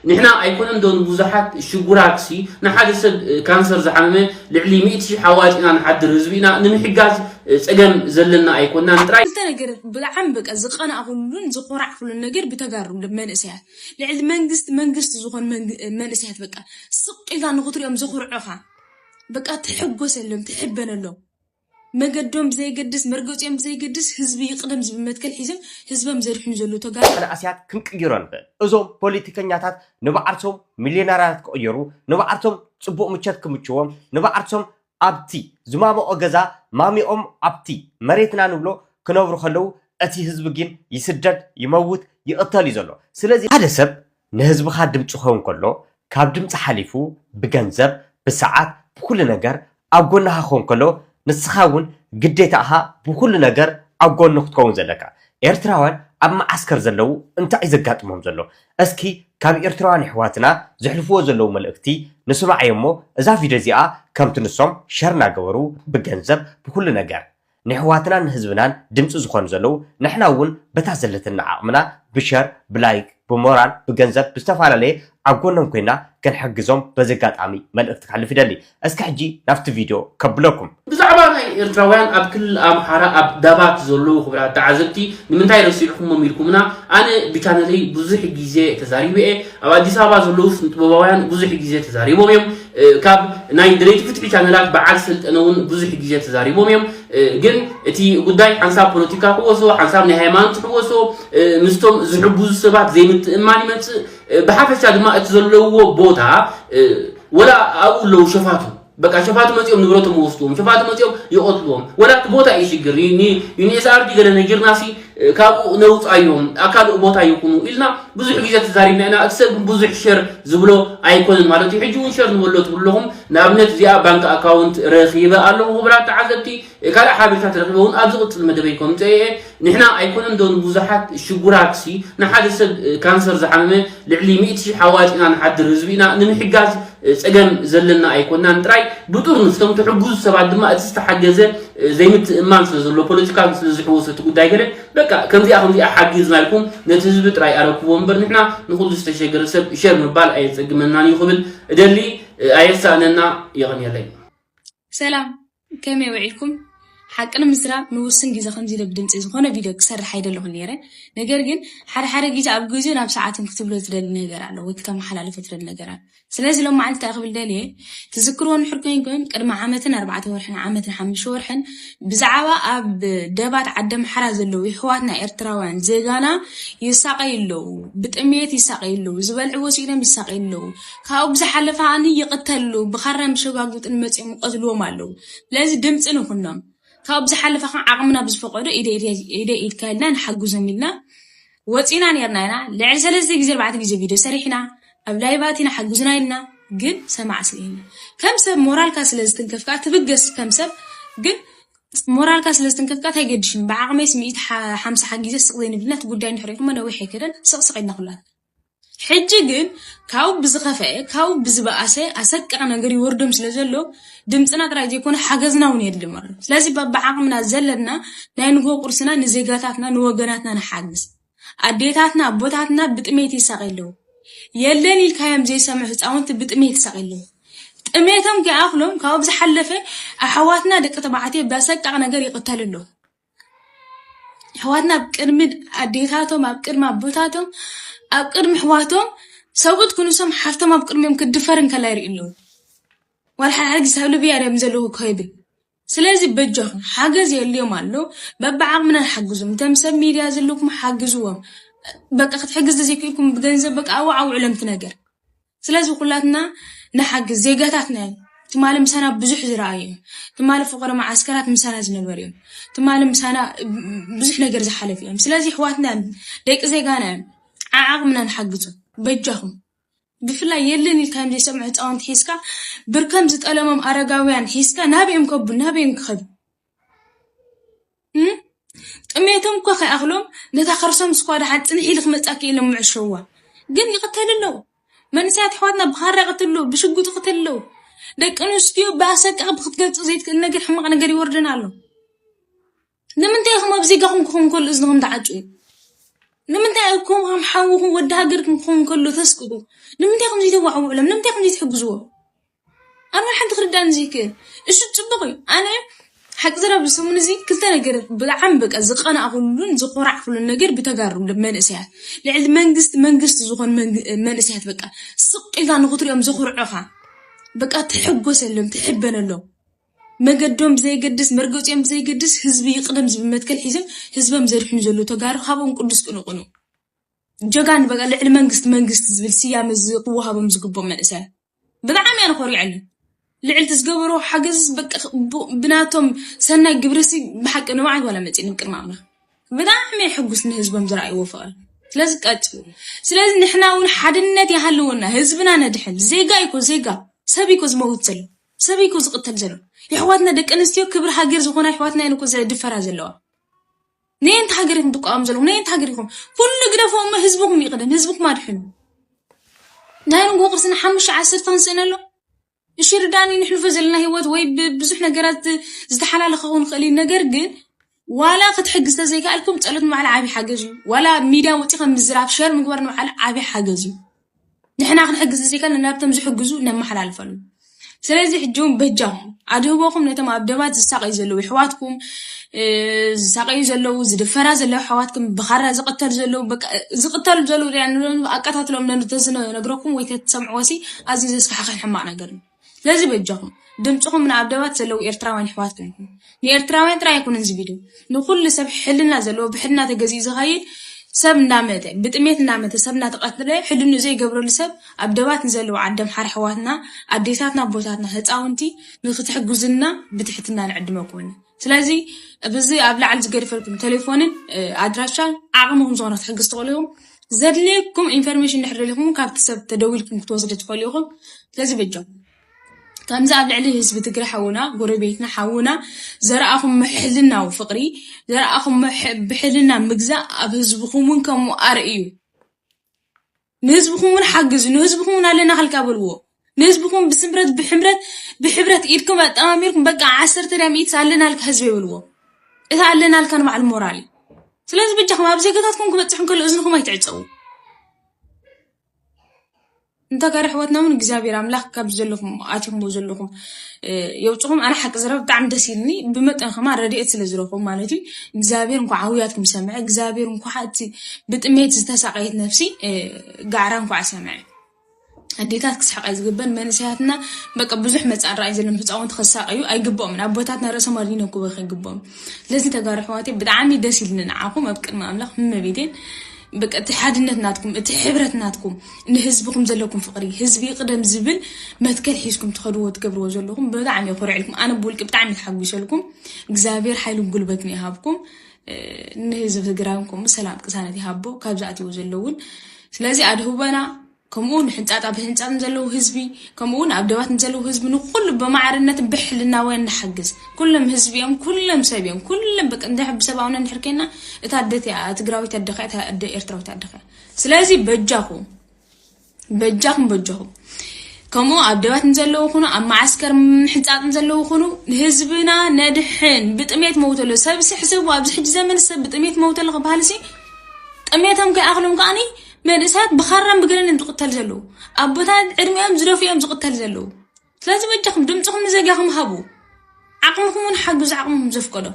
ንሕና ኣይኮነን ዶ ንብዙሓት ሽጉራትሲ ንሓደ ሰብ ካንሰር ዝሓመመ ልዕሊ ሚእቲ ሽሕ ኣዋጺእና ንሓድር ህዝቢ ኢና ንምሕጋዝ ጸገም ዘለና ኣይኮናን ጥራይ። ክልተ ነገር ብጣዕሚ በቃ ዝቀናእኩሉን ዝኮራዕኩሉን ነገር ብተጋሩ መንእሰያት ልዕሊ መንግስቲ መንግስቲ ዝኮኑ መንእሰያት በቃ ስቅ ኢልካ ንክትሪኦም ዘኩርዑካ በቃ ትሕጎሰሎም ትሕበነሎም መገዶም ብዘይገድስ መርገፂኦም ብዘይገድስ ህዝቢ ይቕደም ዝብል መትከል ሒዞም ህዝቦም ዘድሕኑ ዘለዉ ተጋሩ መንእሰያት ክንቅይሮ ንኽእል። እዞም ፖሊቲከኛታት ንባዓልሶም ሚልዮነራያት ክቕየሩ፣ ንባዓልሶም ፅቡቕ ምቸት ክምችዎም፣ ንባዓልሶም ኣብቲ ዝማመቖ ገዛ ማሚቖም ኣብቲ መሬትና ንብሎ ክነብሩ ከለዉ እቲ ህዝቢ ግን ይስደድ፣ ይመውት፣ ይቕተል እዩ ዘሎ። ስለዚ ሓደ ሰብ ንህዝብኻ ድምፂ ክኸውን ከሎ ካብ ድምፂ ሓሊፉ ብገንዘብ ብሰዓት ብኹሉ ነገር ኣብ ጎንኻ ክኸውን ከሎ ንስኻ እውን ግዴታ እኻ ብኹሉ ነገር ኣብ ጎኑ ክትከውን ዘለካ ኤርትራውያን ኣብ መዓስከር ዘለው እንታይ እዩ ዘጋጥሞም ዘሎ እስኪ ካብ ኤርትራውያን የሕዋትና ዘሕልፍዎ ዘለው መልእኽቲ ንስማዕ እሞ እዛ ቪድዮ እዚኣ ከምቲ ንሶም ሸር ናገበሩ ብገንዘብ ብኹሉ ነገር ነሕዋትናን ህዝብናን ድምጺ ዝኾኑ ዘለዉ ንሕና ውን በታ ዘለትና ዓቕምና ብሸር ብላይክ ብሞራል ብገንዘብ ብዝተፋላለየ ኣብ ጎኖም ኮይና ክንሕግዞም በዚ ኣጋጣሚ መልእኽቲ ከሕልፍ ይደሊ እስኪ ሕጂ ናብቲ ቪድዮ ከብለኩም። ብዛዕባ ናይ ኤርትራውያን ኣብ ክልል ኣምሓራ ኣብ ዳባት ዘለዉ ክብራት ተዓዘብቲ ንምንታይ ረሲዕኩሞም ኢልኩምና ኣነ ብቻነለይ ብዙሕ ግዜ ተዛሪበ እየ ኣብ ኣዲስ ኣበባ ዘለዉ ስንጥበባውያን ብዙሕ ግዜ ተዛሪቦም እዮም ካብ ናይ ደለይቲ ፍትሒ ቻነላት በዓል ሰልጠነ ውን ብዙሕ ግዜ ተዛሪቦም እዮም ግን እቲ ጉዳይ ሓንሳብ ፖለቲካ ክወሶ ሓንሳብ ናይ ሃይማኖት ክወሶ ምስቶም ዝሕግዙ ሰባት ዘይምትእምማን ይመጽእ ብሓፈሻ ድማ እቲ ዘለዎ ቦታ ወላ ኣብኡ ኣለዉ ሸፋቱ በቃ ሸፋቱ መጺኦም ንብረቶም ወስድዎም ሸፋቱ መጺኦም ይቐትልዎም ወላ እቲ ቦታ እዩ ሽግር ዩኒኤስኣርዲ ገለ ነጊርናሲ ካብኡ ነውጻዮም ኣብ ካልእ ቦታ ይኹኑ ኢልና ብዙሕ ግዜ ተዛሪብና ኢና። እቲ ሰብ ግን ብዙሕ ሸር ዝብሎ ኣይኮነን ማለት እዩ። ሕጂ እውን ሸር ንበሎ ትብሉ ኣለኹም። ንኣብነት እዚኣ ባንክ ኣካውንት ረኺበ ኣለኹ ክቡራት ተዓዘብቲ። ካልእ ሓበሬታት ረኺበ እውን ኣብ ዝቕጽል መደበይ ከምጽኦ እየ። ንሕና ኣይኮነን ዶ ንብዙሓት ሽጉራትሲ ንሓደ ሰብ ካንሰር ዝሓመመ ልዕሊ ሚእቲ ሽሕ ኣዋጺእና ንሓድር ህዝቢ ኢና። ንምሕጋዝ ጸገም ዘለና ኣይኮናን ጥራይ ብጡር ንፍቶም ትሕግዙ ሰባት ድማ እቲ ዝተሓገዘ ዘይምትእማን ስለ ዘሎ ፖለቲካ ስለ ዝሕወሶ እቲ ጉዳይ ገለ በቃ ከምዚኣ ከምዚኣ ሓጊዝና ኢልኩም ነቲ ህዝቢ ጥራይ ኣረክቦ እምበር ንሕና ንኹሉ ዝተሸገረ ሰብ ሸር ምባል ኣየጸግመናን እዩ ክብል እደሊ ኣየሳእነና የቐንየለይ ሰላም ከመይ ውዒልኩም ሓቂ ንምዝራብ ንውስን ግዜ ከምዚ ኢለ ብድምጺ ዝኾነ ቪድዮ ክሰርሕ ኣይደለኹን ነይረ ነገር ግን ሓደ ሓደ ግዜ ኣብ ግዜን ኣብ ሰዓትን ክትብሎ ትደሊ ነገር ኣሎ ወይ ክተመሓላልፎ ትደሊ ነገር ኣሎ ስለዚ ሎም መዓልቲ እንታይ ክብል ደልየ ትዝክርዎ ንሕር ኮይንኩም ቅድሚ ዓመትን ኣርባዕተ ወርሕን ዓመትን ሓሙሽተ ወርሕን ብዛዕባ ኣብ ደባት ዓዲ ኣምሓራ ዘለዉ ይሕዋትና ኤርትራውያን ዜጋና ይሳቐዩ ኣለዉ ብጥሜት ይሳቐዩ ኣለዉ ዝበልዕዎ ስኢኖም ይሳቐዩ ኣለዉ ካብኡ ብዝሓለፈ ከዓኒ ይቕተሉ ብኻራን ብሸጓጉጥን መጺኦም ይቐትልዎም ኣለዉ። ስለዚ ድምጺ ንኹኖም። ካብኡ ብዝሓለፈ ከ ዓቕምና ብዝፈቐዶ ኢደይ ኢድካ ኢልና ንሓግዞም ኢልና ወጺና ኔርና ኢና። ልዕሊ ሰለስተ ግዜ ኣርባዕተ ግዜ ቪድዮ ሰሪሕና ኣብ ላይቭ ኣቲና ሓግዙና ኢልና ግን ሰማዕ ስለየለ ከም ሰብ ሞራልካ ስለ ዝትንከፍ ከኣ ትብገስ ከም ሰብ ግን ሞራልካ ስለ ዝትንከፍ ከኣ ታይገድሽን ብዓቕመይስ ሚእቲ ሓምሳ ሓጊዘ ስቕ ዘይንብልና እቲ ጉዳይ እንድሕር ሪእኹሞ ነዊሕ ኣይከደን ስቕስቕ ኢልና ኩላትና ሕጂ ግን ካብኡ ብዝኸፈኤ ካብኡ ብዝበኣሰ ኣሰቃቂ ነገር ይወርዶም ስለ ዘሎ ድምጽና ጥራይ ዘይኮነ ሓገዝና እውን የድልዮም ኣሎ። ስለዚ በብዓቕምና ዘለና ናይ ንግሆ ቁርስና ንዜጋታትና ንወገናትና ንሓግዝ። ኣዴታትና ኣቦታትና ብጥሜት ይሳቐዩ ኣለዉ። የለን ኢልካዮም ዘይሰምዑ ህጻውንቲ ብጥሜት ይሳቐዩ ኣለዉ። ጥሜቶም ከይኣኽሎም ካብኡ ብዝሓለፈ ኣሕዋትና ደቂ ተባዕትዮ ብኣሰቃቂ ነገር ይቕተሉ ኣለዉ። ኣሕዋትና ኣብ ቅድሚ ኣዴታቶም ኣብ ቅድሚ ኣቦታቶም ኣብ ቅድሚ ኣሕዋቶም ሰብኡት ክንሶም ሓፍቶም ኣብ ቅድሚኦም ክትድፈር እንከላ ይርእዩ ኣለዉ ዋላ ሓደ ግዜ ኣብ ልብያ ድዮም ዘለዉ እኮ ይብል ስለዚ በጃኹም ሓገዝ የድልዮም ኣሎ በብዓቕምና ንሓግዞም እቶም ሰብ ሚድያ ዘለኩም ሓግዝዎም በቃ ክትሕግዝ ተዘይክኢልኩም ብገንዘብ በቃ ኣዋዓውዕሎም እቲ ነገር ስለዚ ኩላትና ንሓግዝ ዜጋታትና እዮም ትማሊ ምሳና ብዙሕ ዝረኣዩ እዮም ትማሊ ፍቕሪ መዓስከራት ምሳና ዝነበሩ እዮም ትማሊ ምሳና ብዙሕ ነገር ዝሓለፉ እዮም ስለዚ ኣሕዋትና እዮም ደቂ ዜጋና እዮም ዓዓቕምና ንሓግዞ በጃኹም ብፍላይ የለን ኢልካዮም ዘይሰምዑ ህፃውንቲ ሒዝካ ብርከም ዝጠለሞም ኣረጋውያን ሒዝካ ናበዮም ከቡ ናበዮም ክኸዱ ጥሜቶም እኳ ከይኣኽሎም ነታ ከርሶም ስኳ ድሓን ፅንሕ ኢሉ ክመፅኣ ክኢሎም ምዕሸዋ ግን ይቕተሉ ኣለዉ መንእሰያት ኣሕዋትና ብኻራ ይቕትሉ ኣለዉ ብሽጉጥ ይቕትሉ ኣለዉ ደቂ ኣንስትዮ ብኣሰቃቒ ብክትገልፁ ዘይትክእል ነገር ሕማቕ ነገር ይወርደን ኣሎ ንምንታይ ኢኹም ኣብ ዜጋኹም ክኸውን ከሎ እዝንኹም ትዓጭው ንምንታይ ኣብ ከም ከም ሓውኹም ወዲ ሃገርኩም ክኸውን ከሎ ተስቅቑ ንምንታይ ከምዚ ተዋዕውዕሎም ንምንታይ ከምዚ ትሕግዝዎ ኣነ ሓንቲ ክርዳን ዘይክእል እሱ ጽቡቕ እዩ ኣነ ሓቂ ዘረብ ሰሙን እዚ ክልተ ነገር ብጣዕሚ በቃ ዝቀናእኩሉን ዝኮራዕኩሉን ነገር ብተጋሩ መንእሰያት ልዕሊ መንግስቲ መንግስቲ ዝኾኑ መንእሰያት በቃ ስቅ ኢልካ ንክትሪኦም ዘኹርዑኻ በቃ ትሕጎሰሎም ትሕበነሎም መገዶም ብዘይገድስ መርገፂኦም ብዘይገድስ ህዝቢ ይቅደም ዝብል መትከል ሒዞም ህዝቦም ዘድሕኑ ዘለዉ ተጋሩ ካብኦም ቅዱስ ቅንቅኑ ጀጋን በቃ ልዕሊ መንግስቲ መንግስቲ ዝብል ስያመ ክወሃቦም ዝግቦም መንእሰያት ብጣዕሚ እያ ንኾሪዐለን ልዕልቲ ዝገበሮ ሓገዝ ብናቶም ሰናይ ግብርሲ ብሓቂ ንባዓል ዋላ መፅእ ንቅድሚ ኣምና ብጣዕሚ ሕጉስ ንህዝቦም ዝረኣይዎ ፍቕሪ ስለዚ ቀፅሉ ስለዚ ንሕና እውን ሓድነት ይሃልወና ህዝብና ነድሕን ዜጋ ይኮ ዜጋ ሰብ ይኮ ዝመውት ዘሎ ሰብ ይኮ ዝቕተል ዘሎ የሕዋትና ደቂ ኣንስትዮ ክብሪ ሃገር ዝኾና የሕዋትና እየን እኮ ዘድፈራ ዘለዋ ነየንቲ ሃገር ኢኹም ትቃወሙ ዘለኹም? ነየንቲ ሃገር ኢኹም? ኩሉ ግደፎ እሞ ህዝብኹም ይቕደም፣ ህዝብኹም ኣድሕኑ። ናይ ንጎ ቅርሲ ንሓሙሽተ ዓሰርተ ክንስእነ ኣሎ እሺ ርዳኒ ንሕልፎ ዘለና ህይወት ወይ ብዙሕ ነገራት ዝተሓላለኸ ክኸውን ይኽእል እዩ። ነገር ግን ዋላ ክትሕግዝ ተዘይከኣልኩም ጸሎት ንባዕሉ ዓብዪ ሓገዝ እዩ። ዋላ ሚድያ ወፂኻ ምዝራብ ሸር ምግባር ንባዕሉ ዓብዪ ሓገዝ እዩ። ንሕና ክንሕግዝ ዘይከልና ናብቶም ዝሕግዙ ነመሓላልፈሉ ስለዚ ሕጂ እውን በጃኹም ኣድህቦኹም ነቶም ኣብ ደባት ዝሳቀዩ ዘለዉ ኣሕዋትኩም ዝሳቀዩ ዘለዉ ዝድፈራ ዘለዉ ኣሕዋትኩም ብኻራ ዝቕተሉ ዘለዉ ዝቕተሉ ዘለዉ ኣቀታትሎም ተዝነግረኩም ወይ ተትሰምዕዎ ሲ ኣዝዩ ዘስካሕኽሕን ሕማቕ ነገር እዩ ስለዚ በጃኹም ድምጽኹም ንኣብ ደባት ዘለዉ ኤርትራውያን ኣሕዋት ኮንኩም ንኤርትራውያን ጥራይ ኣይኮነን እዚ ቪድዮ ንኹሉ ሰብ ሕልና ዘለዎ ብሕልና ተገዚኡ ዝኸይድ ሰብ እንዳመተ ብጥሜት እንዳመተ ሰብ እናተቐትለ ሕልኑ ዘይገብረሉ ሰብ ኣብ ደባት ንዘለዉ ዓደም ሓር ኣሕዋትና ኣዴታትና ኣቦታትና ህፃውንቲ ንክትሕግዙና ብትሕትና ንዕድመኩም ስለዚ ብዚ ኣብ ላዕሊ ዝገድፈልኩም ቴሌፎንን ኣድራሻን ዓቕሚ ከም ዝኾነ ክትሕግዝ ትኽእሉ ኢኹም ዘድልየኩም ኢንፎርሜሽን እንድሕር ደሊኹም ካብቲ ሰብ ተደዊልኩም ክትወስዱ ትኽእሉ ኢኹም ስለዚ በጆም ከምዚ ኣብ ልዕሊ ህዝቢ ትግረ ሓውና ጎረቤትና ሓውና ዘረኣኹም ምሕልናዊ ፍቕሪ ዘረኣኹም ብሕልና ምግዛእ ኣብ ህዝብኹም እውን ከምኡ ኣርእዩ ንህዝብኹም ውን ሓግዙ ንህዝብኹም ውን ኣለና ከልካ በልዎ ንህዝብኹም ብስምረት ብሕምረት ብሕብረት ኢድኩም ኣጠማሚርኩም በቃ ዓሰርተ ድያ ሚኢትስ ኣለናልካ ህዝበይ በልዎ እቲ ኣለናልካ ንባዕሉ ሞራል እዩ ስለዚ ብጃኹም ኣብ ዜጋታትኩም ክበፅሕ እንከሎ እዝንኹም ኣይትዕፀዉ እንተጋር ኣሕዋትና ውን እግዚኣብሔር ኣምላኽ ካብ ዘለኹም ኣቲኹምዎ ዘለኹም የውፅኹም ኣነ ሓቂ ዝረብ ብጣዕሚ ደስ ኢልኒ ብመጠን ከማ ረድኤት ስለ ዝረኽቡ ማለት እዩ እግዚኣብሔር እንኳ ዓውያትኩም ሰምዐ እግዚኣብሔር እንኳ እቲ ብጥሜት ዝተሳቀየት ነፍሲ ጋዕራ እንኳ ሰምዐ ኣዴታት ክስሕቃ ዝግበን መንእሰያትና በቃ ብዙሕ መፃን ራእይ ዘለዎም ህፃውንቲ ክሳቀዩ ኣይግብኦምን ኣቦታትና ርእሶም ኣድኒኖም ክበክ ይግብኦም ስለዚ ተጋሩ ሕዋቴ ብጣዕሚ ደስ ኢልኒ ንዓኹም ኣብ ቅድሚ ኣምላኽ እመቤቴን በቃ እቲ ሓድነት ናትኩም እቲ ሕብረት ናትኩም ንህዝብኹም ዘለኩም ፍቅሪ ህዝቢ ይቅደም ዝብል መትከል ሒዝኩም ትኸድዎ ትገብርዎ ዘለኹም ብጣዕሚ እየ ኮሪዕልኩም ኣነ ብውልቂ ብጣዕሚ ተሓጒሰልኩም እግዚኣብሔር ሓይልን ጉልበትን ይሃብኩም ንህዝቢ ትግራይን ከምኡ ሰላም ቅሳነት ይሃቦ ካብ ዝኣትዎ ዘለውን ስለዚ ኣድህበና ከምኡ ንሕንፃጣ ብህንፃጥ ንዘለዉ ህዝቢ ከምኡ ውን ኣብ ደባት ንዘለዉ ህዝቢ ንኩሉ ብማዕርነት ብሕልናውያን ንሓግዝ ኩሎም ህዝቢ እዮም ኩሎም ሰብ እዮም ኩሎም በቂ እንድሕር ብሰብኣውነት እንድሕር ኮይና እታ ኣደት እያ ትግራዊት ኣደኻ እታ ኣደ ኤርትራዊት ኣደኻ ስለዚ በጃኹም በጃኹም በጃኹም ከምኡ ኣብ ደባት ንዘለዉ ኹኑ ኣብ መዓስከር ምሕንፃፅ ንዘለዉ ኹኑ ህዝብና ነድሕን ብጥሜት መውተሎ ሰብ ስሕስቡ ኣብዚ ሕጂ ዘመን ሰብ ብጥሜት መውተሎ ክበሃል ሲ ጥሜቶም ከይኣኽሎም ከዓኒ መንእሰያት ብኻራን ብገለን እዮም ዝቕተል ዘለዉ ኣቦታት ዕድሚኦም ዝደፍ እዮም ዝቕተል ዘለዉ ስለዚ በጃኹም ድምፅኹም ንዘጋኹም ሃቡ ዓቕምኹም እውን ሓግዙ ዓቕምኹም ዘፍቀዶ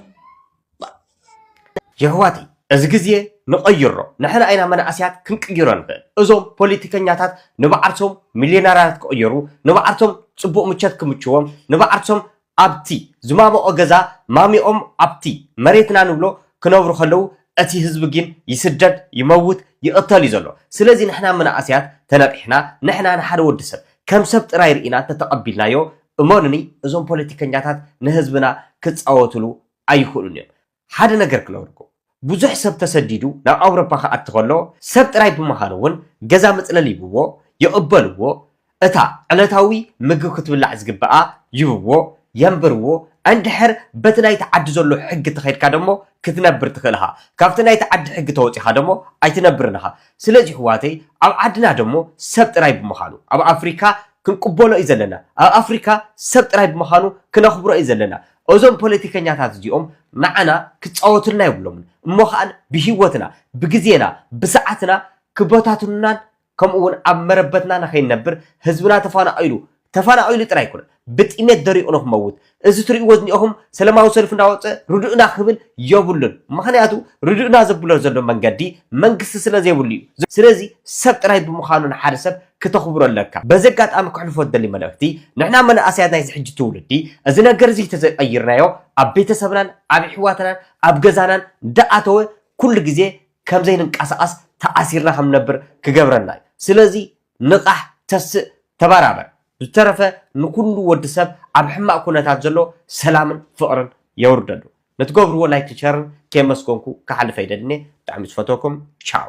የሕዋተይ እዚ ግዜ ንቀይሮ ንሕና ኢና መናእሰያት ክንቅይሮ ንክእል እዞም ፖሊቲከኛታት ንባዓርሶም ሚልዮነራት ክቅየሩ ንባዓርሶም ጽቡቅ ምቸት ክምችዎም ንባዓርሶም ኣብቲ ዝማመቆ ገዛ ማሚቆም ኣብቲ መሬትና ንብሎ ክነብሩ ከለዉ እቲ ህዝቢ ጊን ይስደድ ይመውት ይቅተል እዩ ዘሎ ስለዚ ንሕና መናእሰያት ተነቂሕና ንሕና ንሓደ ወዲ ሰብ ከም ሰብ ጥራይ ሪኢና እንተተቀቢልናዮ እመኑኒ እዞም ፖለቲከኛታት ንህዝብና ክጻወትሉ ኣይኽእሉን እዮም። ሓደ ነገር ክነግርኩም፣ ብዙሕ ሰብ ተሰዲዱ ናብ ኣውሮፓ ክኣቲ ከሎ፣ ሰብ ጥራይ ብምኻኑ እውን ገዛ መጽለሊ ይህብዎ፣ ይቕበልዎ፣ እታ ዕለታዊ ምግቢ ክትብላዕ ዝግብኣ ይህብዎ፣ የንብርዎ፣ እንድሕር በቲ ናይቲ ዓዲ ዘሎ ሕጊ ተኸይድካ ደሞ ክትነብር ትኽእል እኻ፣ ካብቲ ናይቲ ዓዲ ሕጊ ተወጺኻ ደሞ ኣይትነብርን እኻ። ስለዚ ይሕዋተይ ኣብ ዓድና ደሞ ሰብ ጥራይ ብምኻኑ ኣብ ኣፍሪካ ክንቅበሎ እዩ ዘለና፣ ኣብ ኣፍሪካ ሰብ ጥራይ ብምኻኑ ክነኽብሮ እዩ ዘለና፣ እዞም ፖለቲከኛታት እዚኦም ንዓና ክጻወቱልና የብሎምን እሞ ከኣን ብሂወትና ብግዜና ብሰዓትና ክበታትኑናን ከምኡ ውን ኣብ መረበትና ንከይንነብር ህዝብና ተፋናቂሉ ተፋናቂሉ ጥራይ ኣይኮነን ብጥሜት ደሪቁ ንክመውት እዚ ትርእይዎ ዝኒኦኹም ሰለማዊ ሰልፊ እንዳወጸ ርድኡና ክብል የብሉን ምክንያቱ ርድኡና ዘብሎ ዘሎ መንገዲ መንግስቲ ስለ ዘይብሉ እዩ ስለዚ ሰብ ጥራይ ብምዃኑ ንሓደ ሰብ ክተኽብሮ ኣለካ። በዚ ኣጋጣሚ ከሕልፎ ዝደሊ መልእኽቲ ንሕና መናእሰያት ናይዚ ሕጂ ትውልዲ እዚ ነገር እዚ ተዘይቐይርናዮ ኣብ ቤተሰብናን ኣብ የሕዋትናን ኣብ ገዛናን እንዳኣተወ ኩሉ ግዜ ከምዘይንንቀሳቐስ ተኣሲርና ከምንነብር ክገብረና እዩ ስለዚ ንቓሕ ተስእ ተበራበር ብዝተረፈ ንኩሉ ወዲ ሰብ ኣብ ሕማቕ ኩነታት ዘሎ ሰላምን ፍቕርን የውርደሉ ንትገብርዎ ላይክን ሸርን ከየመስገንኩ ክሓልፍ ኣይደልን እየ ብጣዕሚ ዝፈትወኩም ቻው።